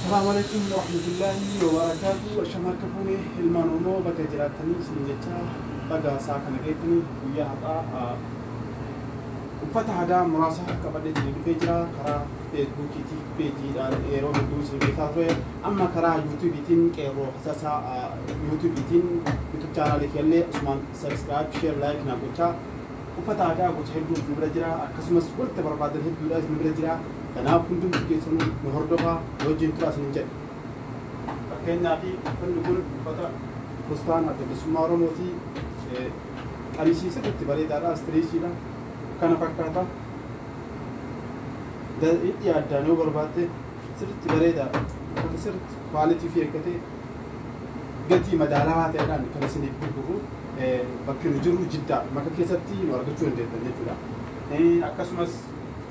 Salaamu alaikum warahmatullaahi wabarakaatu Asham harka fuune ilmaan Oromoo bakka jiraattanii isin jecha baga isaa kana geettanii guyyaa har'aa uffata aadaa muraasa qabadhee isin dhufee jira karaa feesbuukiiti peejiidhaan yeroo hedduu isin beekaa ture amma karaa yuutuubiitiin qeerroo hasasaa yuutuubiitiin yuutuub chaanaalii kiyallee asumaan sabiskiraayib sheer laayik naa gochaa uffata aadaa gocha hedduun isin bira jira akkasumas wanta barbaadan hedduudha isin bira jira Kanaaf hundumti keessanuu nu hordofaa, nu wajjin turaa isiniin jedha. Fakkeenyaaf uffanni kun uffata fustaan Adda Bilisummaa Oromooti. Qamisii sirriitti bareedaadha, istiriichiidha. Kana fakkaata. Hidhii addaan yoo barbaadde sirriitti bareedaadha. Uffata sirriitti kwaalitii fi eeggatee gatii madaalawaa ta'eedhaan kan isiniif gurgurru bakki nu jiru jiddaadha. Maka keessatti nu argachuu dandeettan jechuudha. Akkasumas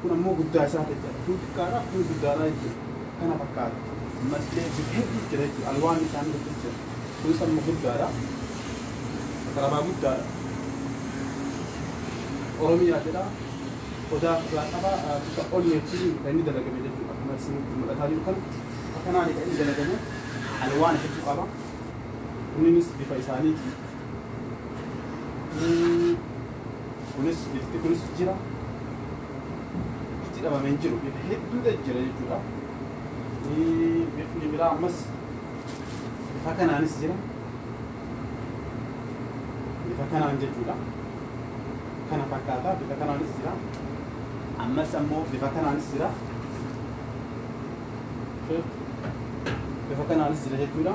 Kun ammoo guddaa isaa ta'e jechaadha. Kun xiqqaadha, kun guddaadha jechuudha. Kana fakkaata. Mallee gosa hedduutu jira jechuudha. Alwaanni isaanii hedduutu jira. Kunis amma guddaadha. Qarabaa guddaadha. Oromiyaa jedha. Odaa ofirraa qaba. Bifa onneetiin kan inni dalagame jechuudha. Akkuma isinitti mul'ataa jiru kana. Bifa kanaani kan inni dalagame. Alwaana hedduu qaba. Kunniinis bifa isaaniiti. Kunis ifti kunis jira. Ifti dhabamee hin jiru. Ifa hedduu ta'e jira jechuudha. Ifni biraa ammas ifa kanaanis jira. Ifa kanaan jechuudha. Kana fakkaata bifa kanaanis jira. Ammas ammoo bifa kanaanis jira. Bifa kanaanis jira jechuudha.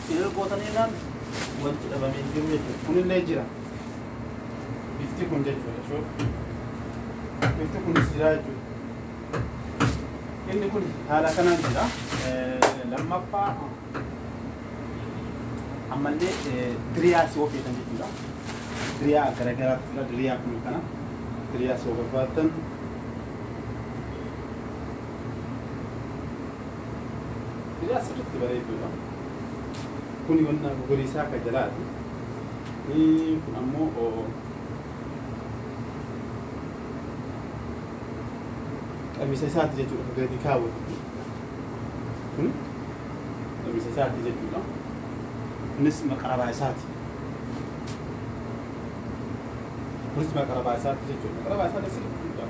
Erga gootanii jennaan wanti dhabame hin jiru jechuudha. Kunillee jira. Bifti kun jechuudha. Shoo. Bifti kunis jira jechuudha. Inni kun haala kanaan jira. Eh, Lammaffaa ammallee eh, diriyaa si hojjetan jechuudha. Diriyaa garaagaraatu jira. Diriyaa kun kana. Diriyaa si barbaaddan. Diriyaa sirriitti bareeduudha. Kuni wanna gogoriisaa ka jalaati. Kun ammoo qamisa isaati jechuudha ka gadi kaawwatu kun. Kun qamisa isaati jechuudha. Kunis maqarabaa isaati. Kunis maqarabaa isaati jechuudha. Maqarabaa isaati sirriitti guddaa.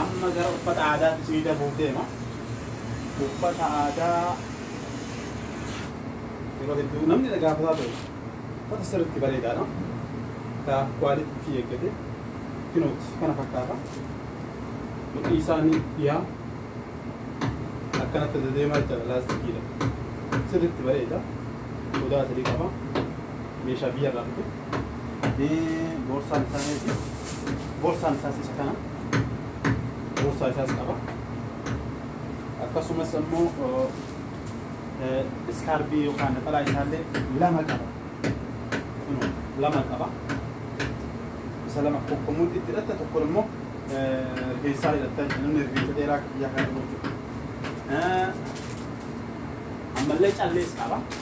Amma gara uffata aadaatti isinii darbuuf deema. Uffata aadaa yeroo hedduu namni na gaafataa ture. Uffata sirriitti bareedaadha. Ka quality fi eeggate kinooti kana fakkaata. Mudhii isaanii dhiyaa akkanatti dedeemaa jechaadha laastikiidha. Sirriitti bareeda. Qodaa sadii qaba. Meeshaa biyyarraa dhufe. Boorsaan isaa meeqa? Boorsaan isaas isa kana. Boorsaa isaas qaba. Akkasumas ammoo iskaarbii yookaan naxalaa isaallee lama qaba. Lama qaba. Isa lama kokkomuutti itti hidhatta tokko immoo rifeensaa hidhatta namni rifeensa dheeraa biyyaa kana qabu jechuudha. Ammallee callees qaba.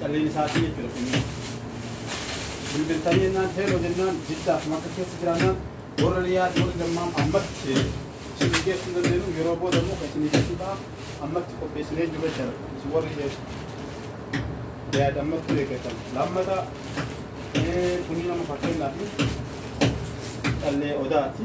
Calleen isaatii jechuudha kunniin. Bilbiltanii jennaan heeloo jennaan jiddaaf makka keessa jiraannaan warra liyaad warri dammaam ammatti isin geessuu dandeenyu yeroo booda immoo kan isin geessuu ta'a ammatti qopheessinee jiru jechuudha. Isin warri liyaad ammatti eeggatan. Lammata kunniin nama fakkeenyaaf callee odaati.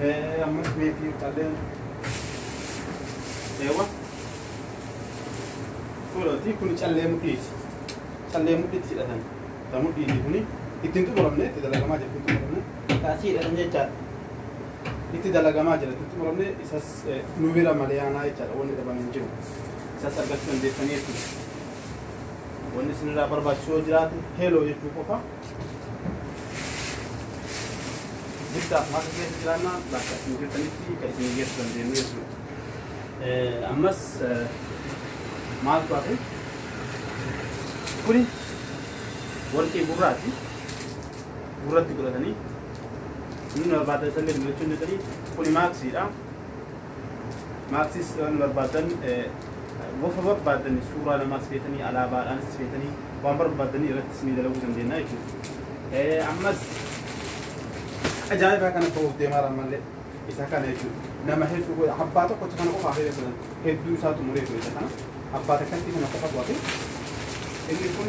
Eh, amma meetii qalleen. Eewa. Kulooti kun callee mudhiiti. Callee mudhiitti hidhatan. Ta mudhiiti kuni ittiin xumuramne itti dalagamaa jirti ittiin xumuramne. Taasii hidhatan jechaadha. Itti dalagamaa jira ittiin xumuramne isas eh, nu bira malee aanaa jechaadha wanni dhaban hin jiru. Isas argachuu dandeessanii jechuudha. Wanni isinirraa barbaachisu yoo jiraate heloo jechuu qofa. Guddaaf haqa keessa jiraannaa bakka isin jirtanitti kan isin geessu dandeenyu jechuudha. Ammas maaltu hafe? Kuni warqii gurraati. Gurratti godhatanii inni barbaadan isallee dibachuun danda'anii kuni maaksiidha. Maarsis waan barbaadan wafa barbaadan suuraa namaas feetanii alaabaadhaanis feetanii waan barbaadanii irratti isinii dalaguu dandeenya jechuudha. Ammas ajaa'ibaa kana bahuuf deemaa irraa malee isa kana jechuudha. Nama hedduu abbaa tokkotti kana qofaa fi jedhan hedduu isaa xumuree ture isa kana abbaa takkatti kana qofa bu'ate inni kun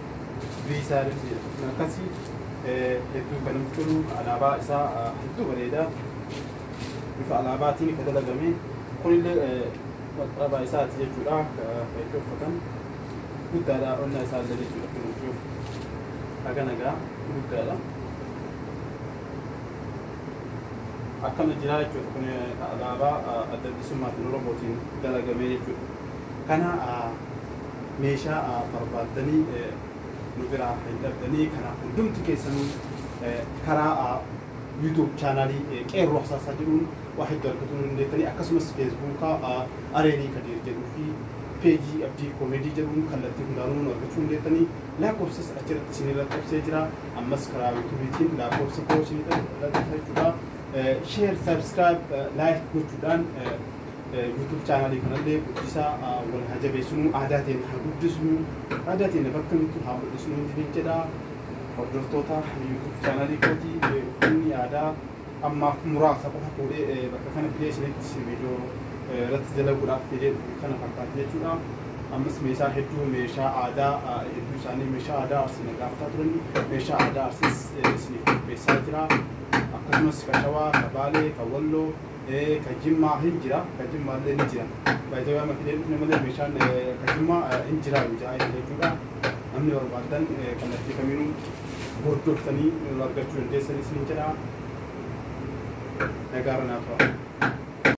Viisaa lifti jedhamu akkasi hedduu kan namatti tolu alaabaa isaa hedduu bareeda bifa alaabaatiin kan dalagame kunillee qaqqabaa isaati jechuudha kan itti uffatan guddaadha onnaa isaa illee jechuudha kunuunsuuf haga nagaa guddaadha akkana jiraa jechuudha kun alaabaa adda bilisummaa kan oromootiin dalagamee jechuudha. Kana meeshaa barbaaddanii nu biraa hin dhabdanii kanaaf hundumti keessanuu karaa YouTube channel Qeerroo Hasaasaa jedhuun waa hedduu argatuu ni dandeettanii akkasumas Facebook Areenii Kadiir jedhuu fi page Abdii Comedy jedhuun kallattii hundaanuu nu argachuu ni dandeettanii lakkoofsas achirratti isinii lakkobsee jira ammas karaa YouTube tiin lakkoofsa koo isinii lakkofsa jechuudha share subscribe like gochuudhaan YouTube channel kanallee guddisaa wal haa jabeessinuu aadaa teenya haa guddisnuu aadaa teenya bakka mittu haa mul'isnuu isiniin jedha hordoftoota YouTube channel kooti uffanni aadaa ammaaf muraasa qofa fuudhee bakka kana fidee isinitti viidiyoo irratti dalaguudhaaf fidee kana fakkaata jechuudha. Ammas meeshaa hedduu meeshaa aadaa hedduu isaanii meeshaa aadaa arsii na gaafataa turan meeshaa aadaa arsiis isiniif qopheessaa jira. Akkasumas kashawaa, kabaalee, kawwalloo Ee ka jimmaa hin jira ka jimmaallee ni jira by the way amma fidee dhufne malee meeshaan ka jimmaa hin jiraa nu ja'aa jira jechuudha namni barbaaddan kallattii kamiinuu hordoftanii nu argachuu dandeessan isiniin jedha nagaarra naa tura.